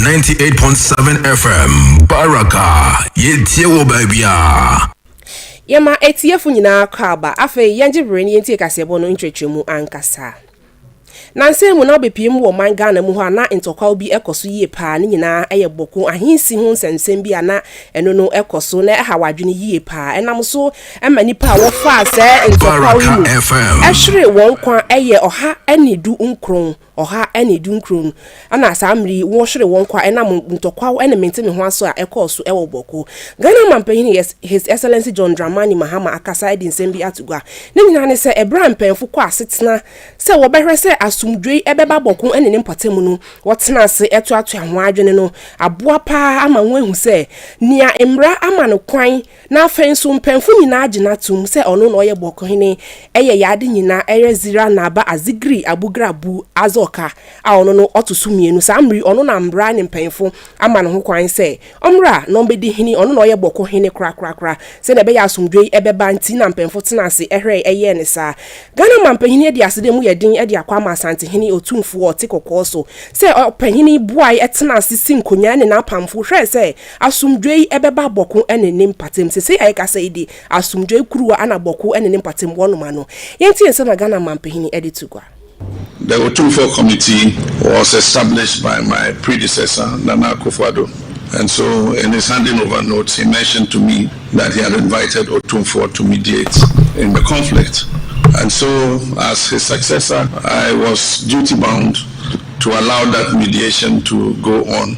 Ninety eight point seven FM Baraka yɛtie wɔ baabiara. Yɛma atiefo nyinaa kwaaba. Afei yɛngye bere na yentie kaseɛbɔ no nkyerɛkyerɛmu ankasa. Nnansa yi mu na wobepue mu wɔ ɔman Ghana mu hɔ a na ntɔkwaw bi kɔ so yie paa, ne nyinaa yɛ Bɔko ahensi ho nsɛmnsɛm bi a na ɛno no kɔ so na ɛhaw adwene yie paa. Ɛnam so ma nnipa a wɔfaa saa ntɔkwaw yi mu hweree wɔn nkwa yɛ ɔha ne du nkron. ɔha ne dunkron no, ɛna saa mmere yi wɔhwere wɔn kwa ɛnam ntɔkwaw ne mente-me-ho aso a ɛkɔɔ so wɔ Bawku. Ghana Manpanyin His Excellency John Dramani Mahama akasa adi nsɛm bi ato gua. Ne nyinaa ne sɛ ɛbere a mpanyimfo kɔ asetena sɛ wɔbɛhwɛ sɛ asomdwoe bɛba Bawku ne ne mpɔtam no, wɔtena ase toatoa wɔn adwene no aboa paa ama wɔahu sɛ nea mmara ama no kwan Na afei nso mpanyimfo nyinaa gyina toom sɛ ɔno na ɔyɛ bɔkɔhene, ɛyɛ yɛn ade nyinaa, ɛyɛ Zera na ba Azigri a Bugra bu Azɔka a ɔno no ɔto so mmienu, saa mmere yi ɔno na mmara ne mpanyimfo ama no ho kwan sɛ ɔmmra na ɔmmedi hene, ɔno na ɔyɛ bɔkɔhene korakorakora, sɛnea ɛbɛyɛ a asomdwoe bɛba nti na mpanyimfo tenaa ase hwɛe yɛɛ no saa. Ghana manpanyin adi ase dɛ emu yɛ den de akɔ ama Asantehene Otumfoɔ a ɔte kɔkɔɔ so sɛ ɔpanyin buae tenaa ase si nkonnwa ne n'apamfo hwɛe sɛ Asomdwoe yi bɛba bɔko ne ne mpatam. Sesei a yɛkasa yi de, asomdwoe kuruwa na bɔko ne ne mpatam wɔnom ano. Yɛntie nsɛm a Ghana Mampahini de to gua. The Otumfoɔ Committee was established by my predecessor, Nana Akufo-Addo, and so in his handing over note, he mentioned to me that he had invited Otumfoɔ to mediate in the conflict. And so as his successor, I was duty-bound to allow that mediation to go on.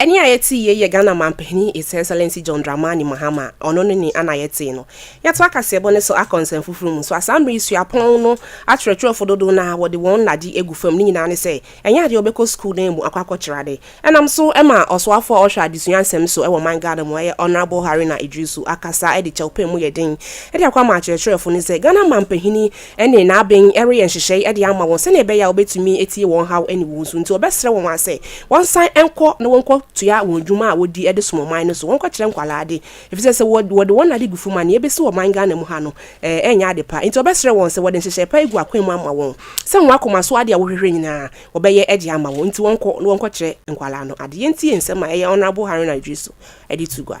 Ɛnne a yɛte yei yɛ Ghana Manpanin His Excellency John Dramani Mahama a ɔno ne nne a na yɛte no. Yɛtoa kaseɛbɔ no so akɔ nsɛm foforɔ mu nso a saa mmerɛ yi suapɔn no akyerɛkyerɛfoɔ dodow no ara wɔde wɔn nna gye agu fam ne nyinaa ne sɛ ɛnyɛ adeɛ a wɔbɛkɔ sukuu dan mu akɔ akɔkyerɛ ade. Ɛnam so ma ɔsoafoɔ a ɔhwɛ adesua nsɛm so wɔ man Ghana mu a ɛyɛ Honourable Haruna Iddrisu akasa de kyɛwpɛn mu yɛ den de akɔ ama akyerɛkyerɛfoɔ no sɛ Ghana Manpanin ne n'aben reyɛ nhyehyɛe de ama wɔn sɛnea ɛbɛyɛ a obetumi atie wɔn haw ne wɔn su. Enti ɔbɛsrɛ wɔn ara sɛ wɔnsan nkɔ na wɔnkɔtoa wɔn adwuma a wodi de som ɔman no so, wɔnkɔkyerɛ nkwadaa ade, efisɛ sɛ wɔde wɔn ade gu fam a, nea ebesi wɔ ɔman Ghana mu ha no, ɛrenyɛ ade pa. Enti ɔbɛsrɛ wɔn sɛ wɔde nhyehyɛe pa agu akwan mu ama wɔn, sɛ wɔn akoma so ade a wɔhwehwɛ nyinaa, wɔbɛyɛ de ama wɔn. Enti wɔnkɔ na wɔnkɔkyerɛ nkwadaa no ade. Yentie nsɛm a ɛyɛ Honourable Haruna Iddrisu de to gua.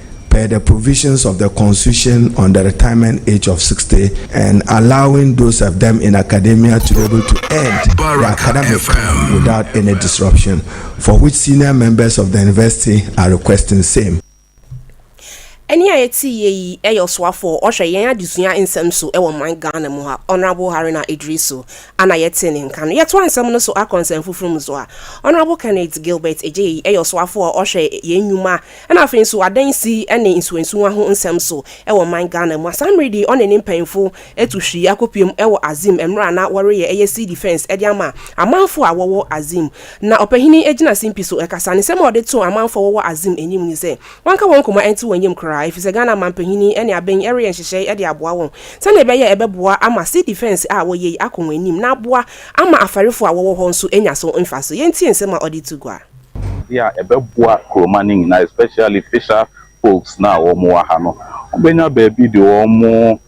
per the provisions of the Constitution on the Retirement Age of Sixty and allowing those of them in academia to be able to end their academic term without any disruption, for which senior members of the University are requesting same. Ɛnne a yɛtieeɛ yi yɛ ɔsoafoɔ a ɔhwɛ yɛn adesua nsɛm so wɔ man Ghana mu ha, Honourable Haruna Iddrisu, a na yɛtee ne nka no. Yɛtoa nsɛm no so akɔ nsɛm foforɔ mu so a, Honourable Kenneth Gilbert Adjei yɛ ɔsoafoɔ a ɔhwɛ yɛn nnwuma Ɛna afei nso adansi ne nsuwansuwa ho nsɛm so wɔ man Ghana mu. Asamredi ɔne ne mpanyimfo atu hwii akɔpuem wɔ Azim mmerɛ a na wɔreyɛ ɛyɛ civil defence de ama amanfoɔ a wɔwɔ Azim. Na ɔpahini gyina simpi so kasa. Ne nsɛm a ɔde too amanfoɔ a wɔwɔ Azim anim ne sɛ wɔnka wɔn koma nte wɔn yam koraa ɛfiri sɛ Ghana manpahini ne aben reyɛ nhyehyɛe de aboa wɔn sɛdeɛ ɛbɛyɛ a ɛbɛboa ama civil defence a wɔyɛ yi akɔ wɔn anim na aboa ama afarefoɔ a wɔwɔ hɔ nso anya so mfasoɔ. Yɛntie nsɛm a ɔde to gua. Ade a ɛbɛboa kuroma no nyinaa especially fisher folks no a wɔn wɔ ha no, wɔn bɛnya baabi de wɔn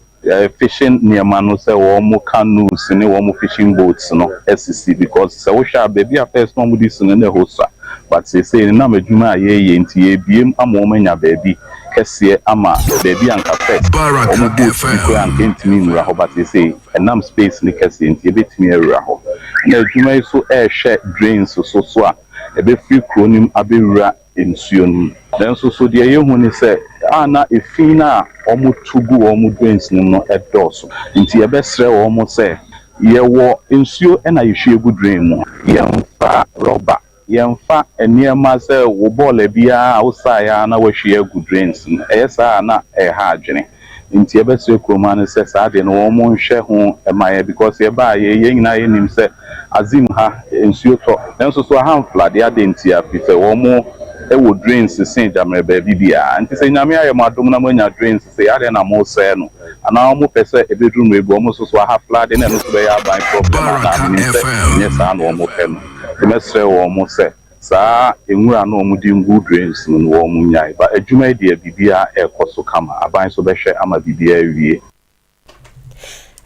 fishing nneɛma no sɛ wɔn canoes ne wɔn fishing boats no asisi because sɛ wohwɛ a baabi a first na wɔde si no na ɛhɔ sua but seesei no nam adwuma a yɛreyɛ nti yɛrebue mu ama wɔn anya baabi kɛseɛ ama baabi a anka first wɔn boat bi koraa anka ɛntumi nwura hɔ but seesei Ɛnam space no kɛseɛ nti ɛbɛtumi awura hɔ. Ɛna adwuma yi nso rehwɛ drains so so a ɛbɛfiri kuro no mu abɛwura nsuo no mu. Nanso so deɛ yɛhu ne sɛ a na efi no a wɔtu gu wɔn drains no mu no dɔɔso. Nti yɛbɛsrɛ wɔn sɛ yɛwɔ nsuo na yɛhwie gu drain mu. Yɛmfa rubber Yɛmfa nneɛma sɛ wo bɔɔla bi ara a wosae ara na woahwie agu drains mu. Ɛyɛ saa a na ɛreha adwene. Nti yɛbɛsrɛ kurowmma no sɛ saa deɛ no wɔnhwɛ ho mma yɛn because yɛbaeɛ yi yɛn nyinaa yɛnim sɛ Azim ha nsuo tɔ nanso so aha mfladeɛ adɛn ntia? Firi sɛ wɔn wɔ drains se Gyammerɛ baabi biara. Nti sɛ Nyame ayɛ mo adom na moanya drains sei adɛn na mosɛe no? Anaa wɔn pɛ sɛ ɛbɛduru mmerɛ bi wɔn nso so aha flade na ɛno nso bɛyɛ aban problem anaa? Menim sɛ ɛnyɛ saa na wɔpɛ no. Mɛsrɛ wɔn sɛ saa nwura no a wɔde ngu drains mu no wɔn nyae. But adwuma yi deɛ biribiara ɛrekɔ so kama. Aban nso bɛhwɛ ama biribiara awie.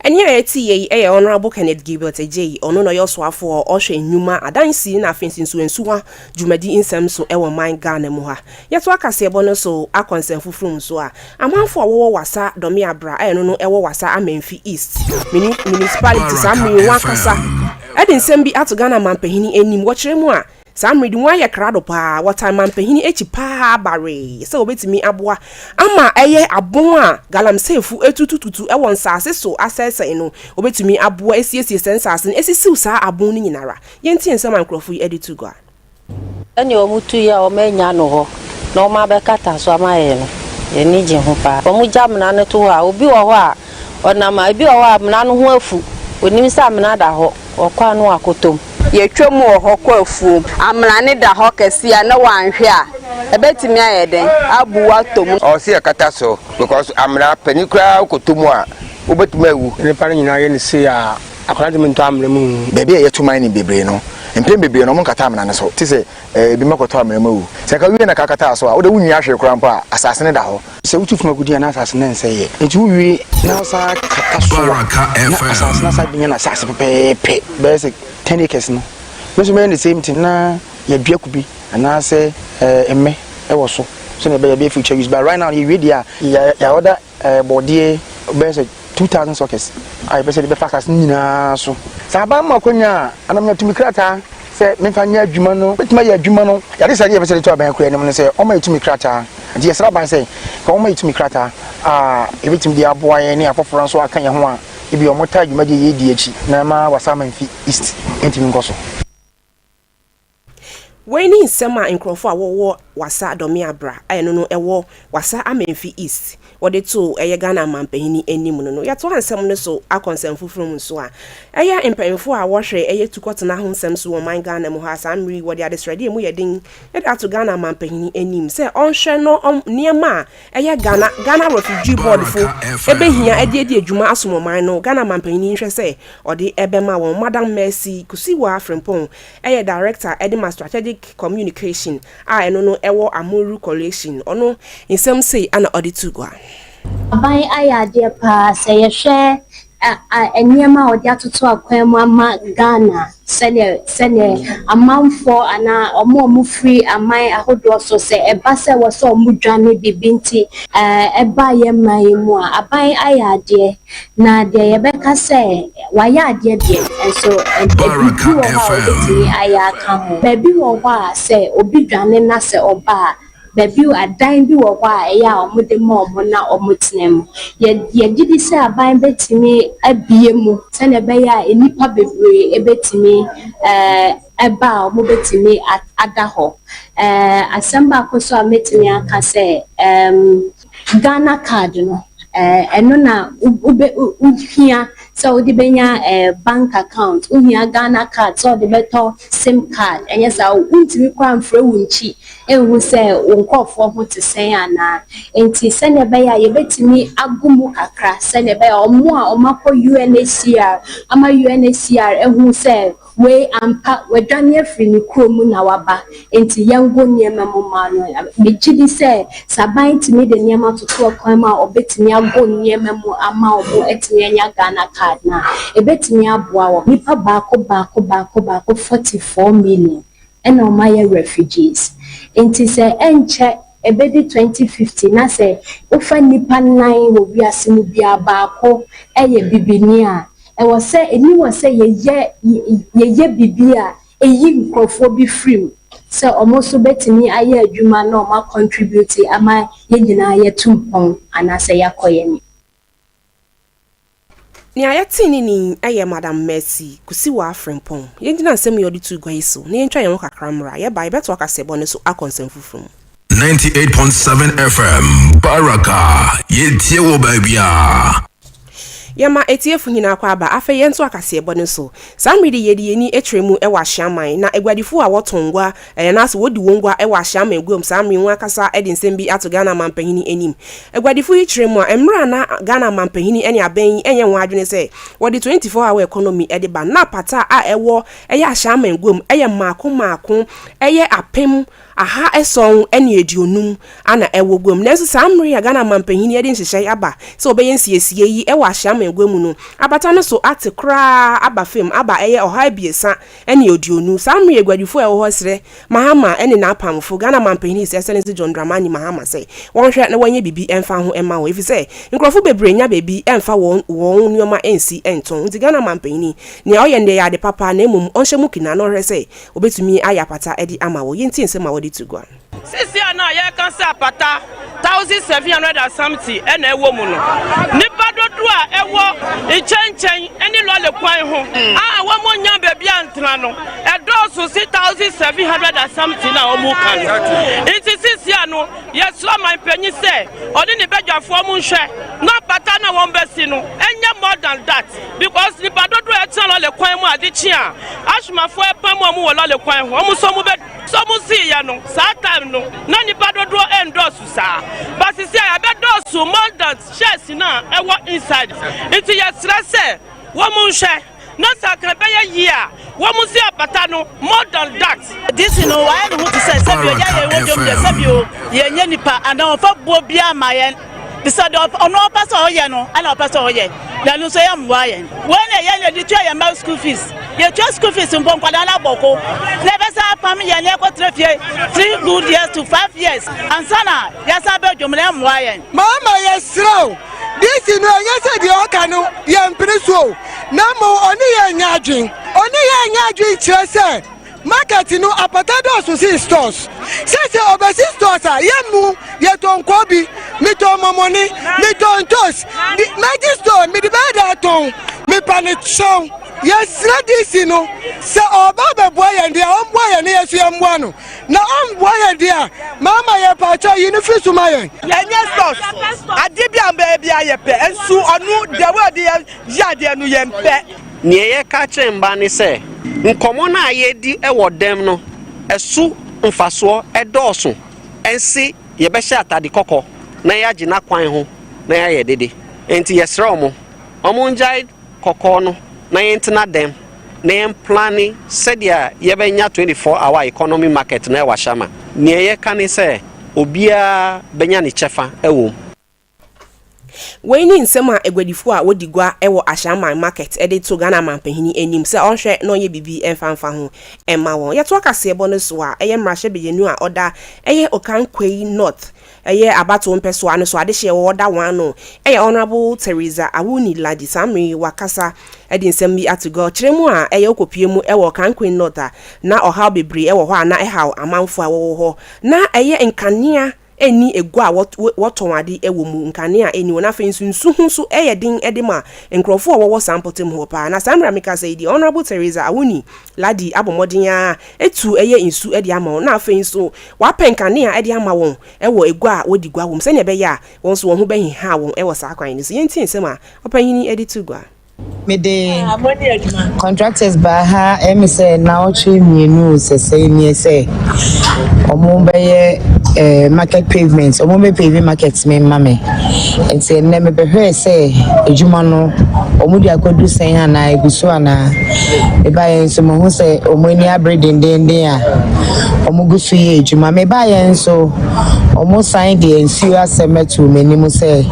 Ɛnne a ɛte yei yɛ Honourable Kenneth Gilbert Adjei, ɔno na ɔyɛ Ɔsoafoɔ a ɔhwɛ Nnwuma, Adansi na afei nso Nsuwansuwa dwumadi nsɛm so wɔ man Ghana mu ha. Yɛtoa kaseɛbɔ no so akɔ nsɛmfoforo mu so a, amanfoɔ a wɔwɔ Wassa dɔme abra a ɛno no ɛwɔ Wassa Amenfi East Municipality saa mmere yi wɔn akasa de nsɛm bi ato Ghana Manpahini anim wɔ kyerɛ mu a saa mmere de wɔayɛ krado paa wɔtan Manpahini akyi paa bawee sɛ wɔbɛtumi aboa ama ɛyɛ abon a Galamseyfo atutututu wɔ nsaase so asɛesɛe no wɔbɛtumi aboa asiesie saa nsaase no asisiw saa abon no nyinara. Yɛntie nsɛm a nkurɔfo yi de to gua. Sɛnea wɔtu yɛ a wɔannya no hɔ na wɔabɛkata so ama yɛn no, yɛn ani gye ho paa. Wɔgya amena no to hɔ a, obi wɔ hɔ a, ɔnam a. Ebi wɔ hɔ a, amena no ho afu. Onim sɛ amena da hɔ, ɔkɔ a na wakɔtɔ mu. Yɛtwam wɔ hɔ kɔ afuom. Amena no da hɔ kɛse a, na wanhwɛ a, ɛbɛtumi ayɛ dɛn? Abuw atɔ mu. Ɔwɔ sɛ yɛkata so because amena, panin koraa wokɔtɔ mu a, wobɛtumi awu. Nnipa no nyinaa yɛ no sei a. Akwadaa ntumi ntɔ amena mu nwu. Baabi a yɛto mining bebree no, mpɛn bebree no wɔnkata amena no so, te sɛ ebi ma kɔtɔ amena mu awu. Sɛ anka wowie na ka kataa so a, wode wunwia hwee koraa mpo a, asase no da hɔ. Sɛ wotu fam agude a, na asase no rensɛe ɛ. Enti wowie na wosan kata so a, na asase no asan abenya n'asase pɛpɛɛpɛ, bɛyɛ sɛ ten acres no. Me nso mɛyɛ the same thing na yɛadua kube anaasɛ mmɛ wɔ so sɛnea ɛbɛyɛ a ɛbɛyɛ future use. But right now no, yɛwie deɛ a, yɛ order eh, bɔdeɛ bɛyɛ sɛ 2000 sockets a yɛpɛ sɛ de bɛfa asase no nyinaa so sɛ aba ma akwanya a anamnya tumi krataa sɛ memfa nyɛ adwuma no bɛtumi ayɛ adwuma no yɛde sɛ deɛ yɛpɛ sɛ de to aban akura anim no sɛ ɔma yɛtumi krataa nti yɛsrɛ aban sɛ ka ɔma yɛtumi krataa a yɛbɛtumi de aboa yɛn ne afoforɔ nso aka yɛn ho a ebi ɔmo taa dwumadie yɛdi akyi na ɛma wasaman fi east ɛntumi nkɔ so Wei ne nsɛm a nkurɔfo a wɔwɔ Wassa Dɔmea Bra a ɛno no ɛwɔ Wassa Amenfi East wɔde too ɛyɛ Ghana Amanpanyin anim no no. Yɛtoa nsɛm no so akɔ nsɛm foforo mu nso a, ɛyɛ mpanyimfo a wɔhwɛ ɛyɛ tukɔtena ho nsɛm so wɔ ɔman Ghana mu ha saa mmere yi wɔde adesrɛde a emu yɛ den de ato Ghana Amanpanyin anim sɛ ɔnhwɛ na nneɛma a Ɛyɛ Ghana Ghana Refugee Board fo ɛbɛhia ɛde adi adwuma asom ɔman no. Ghana manpanyin nhwɛ sɛ ɔde ɛbɛma wɔn. Madam Mercy Kusiwa Frimpong ɛyɛ Director ɛde ma Strategic Communication a ɛno no ɛwɔ Amuru Coalition. Ɔno nsɛm sei ɛna ɔde to gua. Aban ayɛ adeɛ paa sɛ yɛhwɛ nneɛma a wɔde atoto akwan mu ama Ghana sɛdeɛ sɛdeɛ amanfoɔ anaa wɔn a wɔfiri aman ahodoɔ so sɛ ɛba sɛ ɛwɔ sɛ wɔdwane biribi nti ɛba yɛn man yi mu a, aban ayɛ adeɛ. Na deɛ yɛbɛka sɛ wɔayɛ adeɛ deɛ, nso ebi wɔ hɔ a wɔbɛtumi ayɛ aka ho. Baabi wɔ hɔ a sɛ obi dwane na sɛ ɔba a, Na bio, adan bi wɔ hɔ a ɛyɛ a wɔde ma wɔn na wɔtena mu. Yɛ, yɛgye di sɛ aban bɛtumi abue mu sɛdeɛ ɛbɛyɛ a nnipa bebree bɛtumi ɛɛ, ba a wɔbɛtumi ada hɔ. Ɛɛ, asɛm baako nso a mɛtumi aka sɛ, ɛɛm. Ghana card no eh, ɛno na wohia sɛ wode bɛnya eh, bank account, wohia Ghana card sɛ wode bɛtɔ sim card, ɛnyɛ saa o, wontumi koraa mfrɛ wo nkyi nhu sɛ wo nkurɔfoɔ ho te sɛn anaa. Nti sɛdeɛ ɛbɛyɛ a yɛbɛtumi ago mu kakra sɛdeɛ ɛbɛyɛ a wɔn a wɔakɔ UNHCR ama UNHCR ahu sɛ Wei ampa, wadwane afiri ne kuro mu na waba, enti yɛngo nneɛma mu mma no. Megye di sɛ, sɛ aban tumi de nneɛma toto ɛkwan mu a wɔbɛtumi ago nneɛma mu ama wɔatumi anya Ghana card no a, ɛbɛtumi aboa wɔn. Nnipa baako baako baako baako, 44 million, na wɔayɛ refugees. Enti sɛ ɛnkyɛ ɛbɛdu 2050 na sɛ wofa nnipa nnan wɔ wiase mu biara baako yɛ bibini a, ɛwɔ sɛ ani wɔ sɛ yɛyɛ yɛyɛ biribi a ɛyi nkurɔfoɔ bi firi mu sɛ wɔn nso bɛtumi ayɛ adwuma na wɔn a contribute ama yɛn nyinaa yɛatu mpɔn anaasɛ yɛakɔ yɛn anim. Nea yɛtee ne nne yi yɛ Madam Mercy Kusiwaa Frimpong. Yɛngyina nsɛm yi a ɔde too gua yi so na yɛntwa yɛn ho kakra mmra. Yɛba a, yɛbɛtoa kaseɛbɔ no so akɔ nsɛm foforo mu. 98.7 FM Baraka, yɛtie wɔ baabiara. Yɛma atiefo nyinaa kɔ aba. Afei yɛntoa kaseɛbɔ no so. Saa mmere de yɛde yɛn ani kyerɛ mu wɔ ahyiaman, na aguadifo a wɔtɔn ngua anaasɛ wodi wɔn gua wɔ ahyiaman guam saa mmere yi ho akasa de nsɛm bi ato Ghana Manpanin anim. Aguadifo yi kyerɛ mu a, mmere a na Ghana Manpanin ne abɛn yi nyɛ wɔn adwene sɛ wɔde 24 hour economy de ba, na pata a ɛwɔ ɛyɛ ahyiaman guam yɛ mmaako mmaako yɛ apem aha ason ne aduonum na ɛwɔ guam. Nanso saa mmere yi a Ghana Manpanyin yi de nhyehyɛe aba sɛ wɔbɛyɛ nsiesiei yi wɔ Ahyia Amangua mu no, abata no so ate koraa aba fam aba ɛyɛ ɔha abiɛsa ne aduonu. Saa mmere yi aguadifo a ɛwɔ hɔ srɛ Mahama ne n'apamfo, Ghana Manpanyin His Excellency John Dramani Mahama sɛ wɔnhwɛ na wɔnyɛ biribi mfa ho mma wɔn efisɛ nkurɔfo bebree nnya baabi mfa wɔn wɔn nneɛma nsi ntɔn. Nti Ghana Manpanyin yi, nea ɔyɛ nnɛ yɛ ade papa na mmom ɔnhyɛ mu kina na ɔhwɛ sɛ Obetumi ayɛ apata de ama wo. Yɛntie nsɛm a wɔde to gua. Seesei a na yɛreka sɛ apata thousand seven hundred and something na ɛwɔ mu no, nnipa dodoɔ a ɛwɔ nkyɛnkyɛn ne lɔre kwan ho a wɔnnya baabi antena no, ɛdɔɔso se thousand seven hundred and something no a wɔka no. Nti seesei a no, yɛsrɛ ɔmanpanyin sɛ ɔne ne badwafoɔ nhwɛ na apata no a wɔbɛsi no nyɛ more than that. Because nipa dodoɔ a ɛtena lɔle kwan mu ade kye a, Ashmafoɔ repam wɔn wɔ lɔle kwan ho, wɔn nso wɔbɛ. So mosiiɛ no, saa time no, na nipa dodoɔ ɛndɔɔso saa. But sisia yɛabɛdɔɔso more than chairs no a ɛwɔ inside. Nti yɛsrɛ sɛ wɔn nhwɛ na sɛ anka ɛbɛyɛ yie a. Wɔn si apata no more than that. DC no wayɛ ne ho te sɛ sɛbi ɔyɛ yɛn wɔ dwom deɛ sɛbi o yɛn nyɛ nipa anaa ɔnfa buo biara ma yɛn te sɛ deɛ ɔno ɔpɛ sɛ ɔyɛ no ɛna ɔpɛ sɛ ɔyɛ na ɛno nso yɛ mmoa yɛn wei na yɛn na yɛde tua yɛn mma school fees yɛtua school fees mpo nkwadaa no abɔ ko na ɛbɛsa apam yɛn na ɛkɔtena fie three good years to five years ansa na yɛsa bɛ dwom na ɛmmoa yɛn. maama yɛserɛ o DC no ɛnyɛ sɛ deɛ ɔka no yɛmpene so o na mmom ɔne yɛn nyɛ adwene. Ɔne yɛn nyɛ adwene kyerɛ sɛ market no apata dɔɔso sen stores. Sɛ sɛ ɔbɛsi stores a, yɛn mu yɛtɔ nkɔɔ bi, metɔ mɔmɔne, metɔ ntos, mɛgye store mede bɛyɛ dɛ atɔn. Mepa no kyɛw, yɛsrɛ DC no sɛ ɔreba abɛboa yɛn deɛ a, ɔmmoa yɛn na yɛn nso yɛmmoa no. Na ɔmmoa yɛn deɛ a, mama yɛn pakyɛw yi no firi so ma yɛn. Ɛnyɛ stores, adeɛ bi a bɛyɛ biara yɛpɛ, nso ɔno the way ɔde yɛ Yɛ adeɛ no yɛn pɛ. Neɛ yɛka kyerɛ mma ne sɛ, nkɔmmɔ no a yɛredi wɔ dɛm no so mfasoɔ dɔɔso se yɛbɛhyɛ atade kɔkɔ na yɛagye no akwan ho na yɛayɛ dede. Enti yɛsrɛ wɔn, wɔn ngyae kɔkɔɔ no na yɛntena dɛm na yɛn plane sɛdeɛ yɛbɛnya 24 hour economy market no wɔ Ashama. Neɛ yɛka ne sɛ obiara bɛnya ne kyɛfa wɔ mu. Wei ne nsɛm a aguadifo a wodi gua wɔ Ashaiman Market de to Ghana Manpanyin anim sɛ ɔnhwɛ na ɔnyɛ biribi mfa mfa ho mma wɔn. Yɛtoa kaseɛbɔ no so a, ɛyɛ mmarahyɛ bayanu a ɔda ɛyɛ Okankwayi North ɛyɛ abatow mpɛsoa no so adehyeɛ wɔ ɔda wɔn ano ɛyɛ Honourable Theresa Awuni Large saa mmerɛ yi wakasa de nsɛm bi ato gua ɔkyerɛ mu a ɛyɛ ɔkɔpue mu wɔ Okankwayi North a na ɔhaw bebree wɔ hɔ a na ɛhaw amanfoɔ a wɔwɔ hɔ na ɛyɛ nkanea nni agua a wɔtɔn ade wɔ mu, nkanea a enni hɔ, na afei nso nsu ho nso yɛ den de ma nkurɔfo a wɔwɔ saa mpɔtam hɔ paa. Na saa mmere a mekasa yi deɛ, Honourable Theresa Awoni Lardy abɔ mmɔden ara atu yɛ nsu de ama wɔn, na afei nso wapɛ nkanea de ama wɔn wɔ agua a wɔdi gua wom, sɛnea ɛbɛyɛ a wɔn nso wɔn ho bɛheha wɔn wɔ saa kwan no so. Yɛntie nsɛm a ɔpanyin yi de too gua. Mede contractors baa ha ɛyɛ me sɛ naawɔtwe mmienu sɛsɛe nie sɛ wɔn bɛyɛ eh, market pavement wɔn bɛ pave market me mma me nti ɛnɛ mebɛhwɛɛ sɛ adwuma no wɔn de akɔdu sɛn anaa egu so anaa mebaeɛ nso mahu sɛ wɔn ani abere dendenden a wɔn gu so yɛ adwuma mebaeɛ nso wɔn san deɛ nsuo asɛm ato m'anim sɛ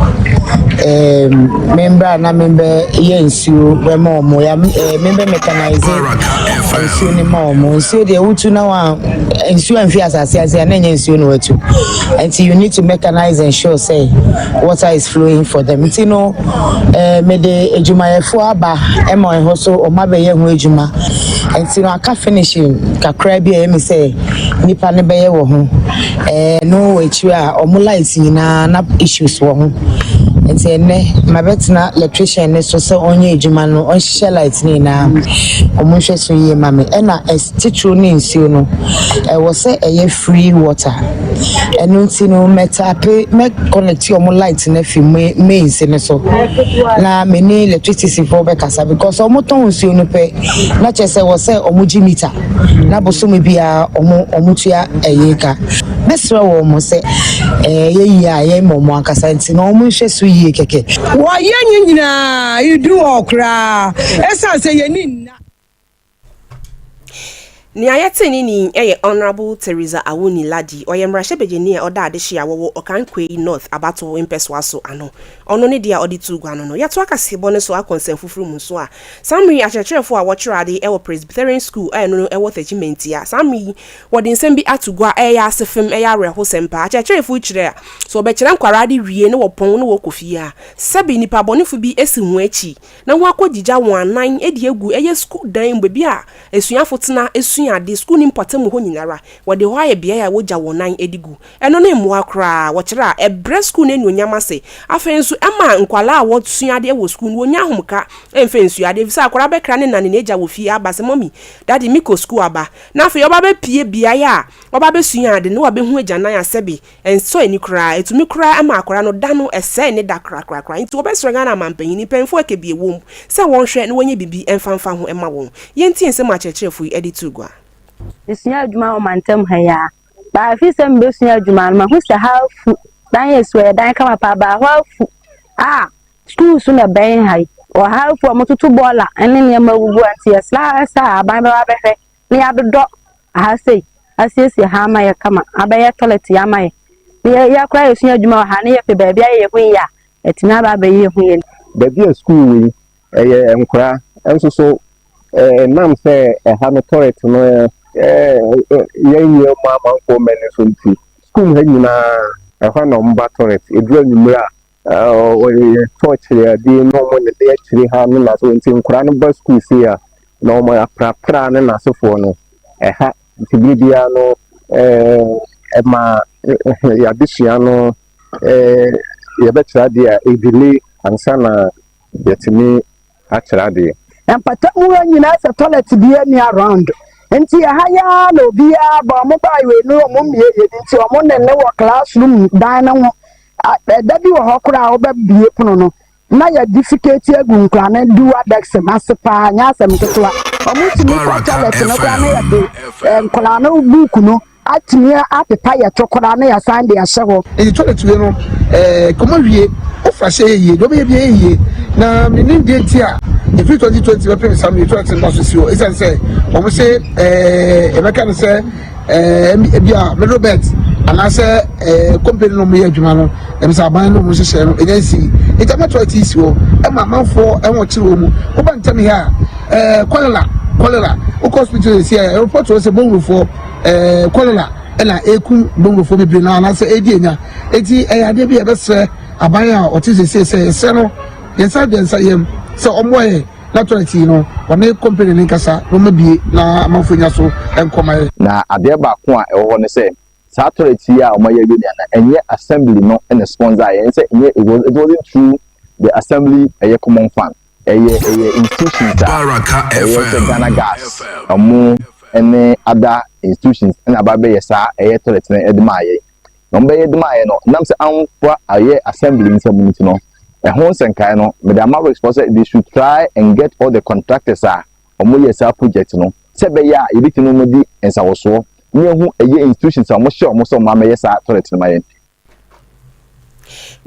ɛɛm. me mbra na me bɛ yɛ nsuo bɛ ma ɔmo ya me ɛɛ me bɛ mɛkanaize nsuo ne ma ɔmo nsuo deɛ wotu na wa nsuo anfi asase ase a na nyɛ nsuo na watu nti you need to mechanize and show say water is flowing for them nti no ɛɛ eh, me de adwumayɛfoɔ aba ɛma ɛhɔ so ɔmo abɛyɛ ho adwuma nti no aka finishing kakra bi a ɛmi sɛ nipa ne bɛyɛ wɔ ho Ɛno akyiri a ɔmo lights nyinaa na issues wɔ ho nti ɛnɛ mabɛtena electrician ne so sɛ ɔnyɛ adwuma no ɔnhyehyɛ lights ne nyinaa ɔmo nhwɛ so yie ma me ɛna titiriw ne nsuo no ɛwɔ sɛ ɛyɛ free water ɛno nti no mɛtape mɛ connect ɔmo lights no afi mains no so na mene electricity foɔ bɛkasa because ɔmo tɔn nsuo no pɛ na kyerɛ sɛ wɔ sɛ ɔmo gye meter. na bosome biara wɔn wɔtua ɛyɛ ka mɛsrɛ wɔn mo sɛ ɛyɛ yie a ɛyɛ ma wɔn ankasa nti na wɔn nhwɛ so yie kɛkɛ. Wɔyɛ nye nyinaa edu hɔ koraa ɛsan sɛ yɛni nna. Nea yɛte ne ni yɛ Honourable Theresa Awuni Lardy, ɔyɛ mmarahyɛbadwani a ɔda adehye a wɔwɔ Okankwe North abatow mpɛsoa so ano. Ɔno ne deɛ a ɔde too gua no no. Yɛtoa kaseɛbɔ no so akɔ nsɛmfoforo mu nso a, Saa mmere yi akyerɛkyerɛfo a wɔkyerɛ ade wɔ Presbyterian Sukuu a ɛno no wɔ Thechiman tia. Saa mmere yi wɔde nsɛm bi ato gua a ɛyɛ asefem, ɛyɛ awerɛhosɛm paa. Akyerɛkyerɛfo yi kyerɛ a, sɛ wɔbɛkyerɛ nkwaraa ade wie na wɔpɔn na wɔkɔ fie a, sɛbe nnipa bɔnefo bi asi wɔn akyi na wɔakogyigya wɔn anan de agu ɛyɛ sukuu dan mu, baabi a asuafo tena sua ade, sukuuni mpɔtam hɔ nyinara. Wɔde hɔ ayɛ beae a wogya wɔn nan de gu. Ɛno ne mmoa koraa, wɔkyerɛ a, ɛbrɛ sukuu no anuonyam ase. Afei nso, ɛma nkwadaa a wɔsua adeɛ wɔ sukuu no, wɔnya ahomka mfa nsua adeɛ, ɛfiri sɛ akwadaa bɛkra ne na ne n'agya wɔ fie aba sɛ, Mɔmi, Dadi, mekɔ sukuu aba. Na afei ɔba bɛpue beaeɛ a ɔba bɛsua ade na wabɛhu agyanan a sɛbe ɛnsɔ ani koraa. Ɛtumi koraa ma akwadaa no da no sɛe ne da korakorakora. Enti wɔbɛsrɛ Ghana amanpanin, mpanyimfoɔ a ɛka bi wɔ mu, sɛ wɔnhwɛ na wɔnyɛ biribi mfa mfa ho mma wɔn. Yɛntie nsɛm a akyerɛkyerɛfoɔ yi de too gua. Mesua adwuma wɔ mantam ha yi ara. Baa afi sɛ mebɛsua adwuma no mahu sɛ ha afu dan yɛ su ɛyɛ dan kama paa baa hɔ afu a sukuu so na ɛbɛn ha yi wɔ ha afu a wɔtoto bɔɔla ne nneɛma agugu a nti yɛsrɛ sɛ aban bɛba bɛhwɛ na yɛadodɔ ha sei asiesie ha ama yɛ kama abɛyɛ tɔlɛt yɛ ama yɛ na yɛyɛ koraa yɛsua adwuma wɔ ha na yɛpɛ baabi ayɛ yɛ ho yie a atumi aba abɛyɛ yɛ ho yie baabi a sukuu wɔ yi Ɛyɛ nkora nso so. Ɛnam sɛ ɛha no tɔrɛt no yɛ nyɛ mu amanfoɔ mmɛ no so nti, sukuu mu ha nyinaa ɛhɔ a na wɔn ba tɔrɛt. Ɛduru anwumerɛ a, wɔyɛ tɔɔkyere adeɛ na wɔn de akyire ha ne n'asefoɔ nti nkora no ba sukuu sei a, na wɔn aprapra ne n'asefoɔ no ɛha. Nti berɛ biara no ɛma yɛn adesua no yɛbɛkyerɛ adeɛ a ɛdelay ansa na yɛtumi akyerɛ adeɛ. Mpata mu ha nyinaa sɛ toilet bia ni around nti ɛha yi ara na obiara ba ɔmo baa wei no ɔmo mmie yɛ bi nti ɔmo ne ne wɔ class room dan no ho ɛda bi wɔ hɔ koraa ɔbɛ bie pono no na yɛ difiketi agu nkora ne duwa dɛks no ase paa nyɛ asɛm ketewa ɔmo tumi kɔ toilet no koraa na yɛ de nkora no book no Atumi apepa yɛ tokora na yɛasan de ahyɛ hɔ. Nti toilet wei no eh kɔmɔ wie wofa hyɛ yɛ yie deɛ ɔbɛyɛ bia yɛ yie na menim deɛ nti a ɛfiri 2020 bɛpem saa no yɛ toilet nda so si hɔ ɛsiane sɛ wɔn se eh yɛbɛka no sɛ eh bia middle belt anaasɛ eh company no wɔn yɛ adwuma no ɛm sɛ aban no wɔn hyehyɛ no ɛnya nsi nti ama toilet yi si hɔ ɛma amanfoɔ ɛho kyerɛ wɔn mu woba ntɛm yɛ a eh kɔlera kɔlera wokɔ hospital yɛ si a ɛrepɔt wɔ sɛ bɔwurofoɔ ɛɛ kɔlera na ekum bongofo bebree na anaasɛ edi enya eti ɛyɛ adeɛ bi a yɛbɛsrɛ aban a ɔte sese sɛ yɛsrɛ no yɛn nsa deɛ nsa yam sɛ ɔmmoa yɛ na tɔlɛt yi no ɔne kɔmpani ne nkasa na ɔma bie na amanfo nya so nkɔma yɛ. Na adeɛ baako a ɛwɔ hɔ ne sɛ saa tɔlɛt yi a ɔma yɛ awie nea na ɛnyɛ assembly no ɛna sponsor yɛn sɛ ɛnyɛ it wasn't through the assembly ɛyɛ common fund. Ɛyɛ ɛyɛ institutions a ɛyɛ sɛ Ghana gas ɔmo ɛne ada institutions ɛna aba bɛyɛ saa ɛyɛ toilet no ɛde maa yɛn na ɔmo bɛyɛ de maa yɛn no nam sɛ amfa ayɛ assembly nsɛm no nti no ɛho nsɛnkae no mede ama risk fɔ sɛ they should try and get all the contractors a ɔmo yɛ saa project no sɛ ɛbɛyɛ a yɛbɛtumi no ɔmo di nsawosoɔ ne ehu ɛyɛ institutions a ɔmo hyɛ ɔmo sɛ ɔmo amɛyɛ saa toilet no ma yɛn.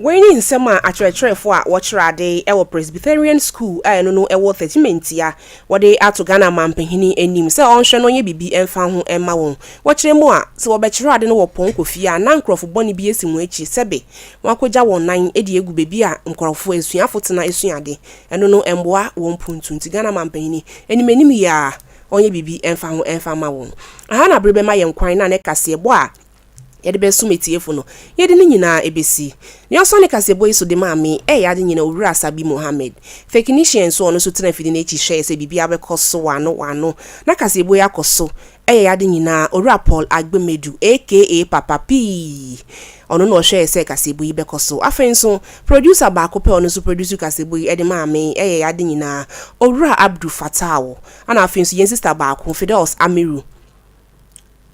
Wei ne nsɛm a akyerɛkyerɛfo a wɔkyerɛ ade wɔ Presbyterian School a ɛno no wɔ Thirty-Minti a wɔde ato Ghana Mampanyini anim sɛ ɔnhwɛ na ɔnyɛ biribi mfa ho mma wɔn. Wɔkyerɛ mu a, sɛ wɔbɛkyerɛ ade no wɔ pɔnkɔ fie a, na nkurɔfo bɔne bi asi wɔn akyi, sɛbe wɔakogya wɔn nan de agu baabi a nkurɔfo, asuafo tena sua ade. Ɛno no mmoa wɔn mpontu, nti Ghana Mampanyini, anim anim yi ara, ɔnyɛ biribi mfa ho mfa mma wɔn. Ɛha na bere bɛma yɛn kwan na ne kaseɛbɔ a yɛde bɛsom atiefo no, yɛde ne nyinaa ɛbɛsi. Nea ɔsɔ ne kaseɛbɔ yi so de maa me ɛyɛ ade nyina Owura Asabi Mohammed. Feknishia nso ɔno nso tena afidi no akyi hwɛɛ sɛ biribiara bɛkɔ so wano wano na kaseɛbɔ yi akɔ so ɛyɛ ade nyinaa Owura Paul Agbemedu aka Papa P ɔno na ɔhwɛɛ sɛ kaseɛbɔ yi bɛkɔ so. Afei nso producer baako pɛ ɔno nso produce kaseɛbɔ yi ɛde maa me ɛyɛ ade nyinaa Owura Abdu Fattah wo ɛna afei nso yɛn sister baako Fidelce Amiru.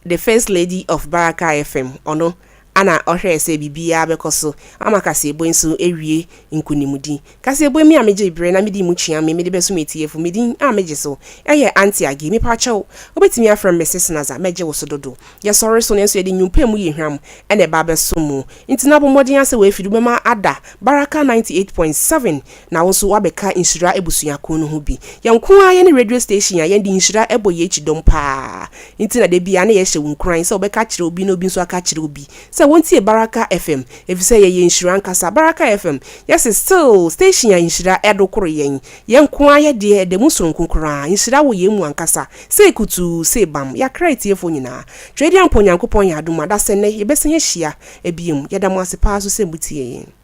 The First Lady of Baraka FM, ɔno na ɔhwɛɛ sɛ biribiara bɛkɔ so ama kaseɛbɔ nso awie nkonimdi. Kaseɛbɔ mi a megyee berɛ na medii mu kyea me mede bɛso m'atiefo. Me din a megye so yɛ Aunty Aggie. Mepakyɛw, wobɛtumi afrɛ me Mrs. Naza, mɛgye wo so dodo. Yɛsɔre so nanso yɛde nnwom pɛ mu yɛ hwam na ɛba abɛso mu. Nti na bɔ mmɔden ara sɛ w'afiri wobɛma ada Baraka 98.7. Na wo nso woabɛka nhyira abusua ko no ho bi. Yɛn nko ara yɛne radio station a yɛde nhyira bɔ yɛn akyi dɔm pa ara nti na da biara na yɛhyɛ wo nkuran sɛ wobɛka akyerɛ obi na obi nso aka akyerɛ obi sɛ wɔntie Baraka FM efisɛ yɛyɛ nhyira ankasa. Baraka FM yɛ se still station a nhyira do koro yɛn. Yɛn nko ara yɛ deɛ ɛda mu soronko koraa. Nhyira wɔ yɛn mu ankasa. Sei kutuu, sei bam. Yɛakra atiefoɔ nyinaa. Twedeampɔn Nyankopɔn yɛ adom a da sɛ nnɛ yɛbɛsan ahyia biom. Yɛda mo ase pa ara nso sɛ motie yɛn.